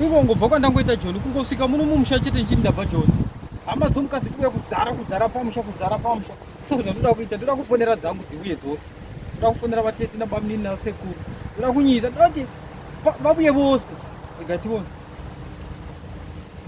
Iko ngobva kwandangoita joni kungosvika muno mumusha chete ndichiti ndabva joni. Hama dzomukadzi kuuya kuzara kuzara pamusha kuzara pamusha. So zvandoda kuita ndoda kufonera dzangu dziuye dzose. Ndoda kufonera vatete nabamnini nasekuru. Ndoda kunyisa ndoti vabuye vose. Ndikationa.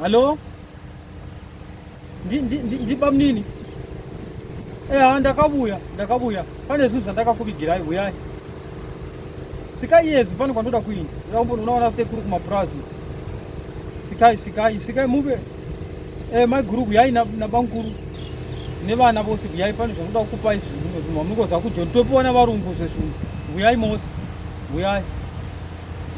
Hello? ndibamnini eha ndakabuya ndakabuya pane zvinhu zvandakakuvigirai huyai svikai iyezvi pane kwandoda kuinda unaona sekuru kumapurazi svikai svikai svikai muve eh, maiguru huyai nabamkuru nevana vose huyai pane zvanoda kukupai zvimwe zvinhu hamungoziva kujoni topiwa navarungu zvezvinhu huyai mose huyai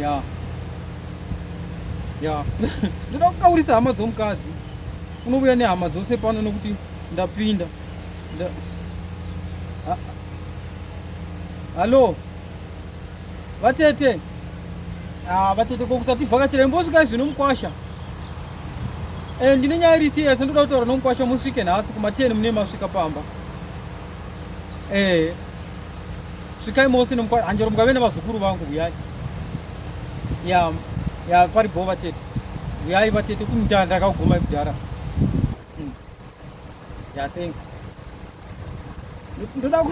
ya yeah. ya ndoda kukaurisa hama dzomukadzi unovuya nehama dzose pano nokuti ndapinda hallo vatete ah, vatete kokusati vhakachira imbosvika izvi nomukwasha eh, ndine nyaya iri siya sendoda kutaura nomukwasha musvike nhasi kumateni mune masvika pamba eh. svikai mose nemukwa hanjero mukave nevazukuru vangu huyai ya ya pari bho vatete huyai vatete kumutara ndakaguma kudhara hmm. ya thank ndoda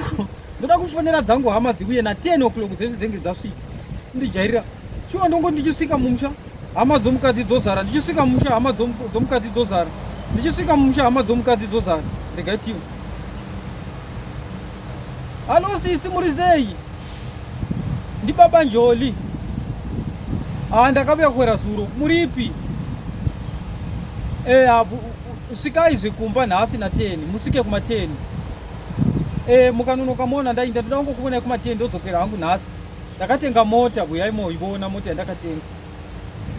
ndoda kufonera dzangu hama dziuye na 10 o'clock dzese dzenge dzasvika ndijairira shuwa ndongo ndichisvika mumusha hama dzomukadzi dzozara ndichisvika mumusha hama dzomukadzi dzozara ndichisvika mumusha hama dzomukadzi dzozara regai tiwe halo sisi muri sei ndibaba njoli haa ah, ndakavuya kuwera zuro muripi eh, ah, svikai zvekumba nhasi nateni musvike kumateni eh, mukanonoka mona ndainda ndoda kungokuonai kumateni ndodzokera hangu nhasi Ndakatenga mota kuyai moiona mota yandakatenga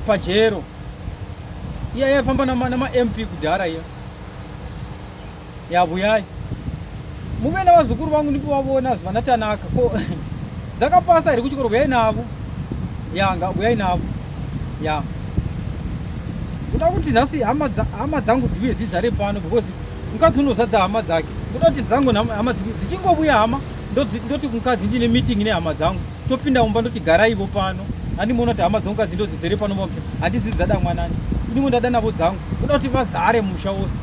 pajero iya yaifamba namamp kudhara iya yavuyai muve navazukuru vangu ndipo vavona zvana tanaka ko dzakapasa here kuchikoro vuyai navo yanga vuyai navo ya ndoda kuti nhasi hama dzangu dzivuye dzizare pano because mukadzi unozadza hama dzake ndoda kuti dzangu hama dzichingovuya hama ndoti kumukadzi ndine meeting nehama dzangu topinda mumba ndoti garaivo pano andimoona kuti hama dzangu kadzi ndodzizere pano mba kuti handizivi dzada mwanani ndimwe ndada navo dzangu ndoda kuti vazare musha wose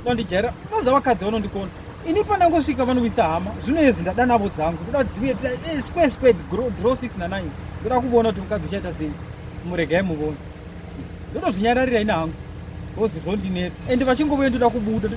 vandijaira vaza vakadzi vanondikona ini pandangosvika vanowisa hama zvino izvi ndada navo dzangu ndoda kuti dziuye eh, square square draw 6 na 9 ndoda kuona kuti mukadzi uchaita sei muregai muvoni ndotozvinyararira ini hangu vozizondinetsa ende vachingovoye ndoda kubuda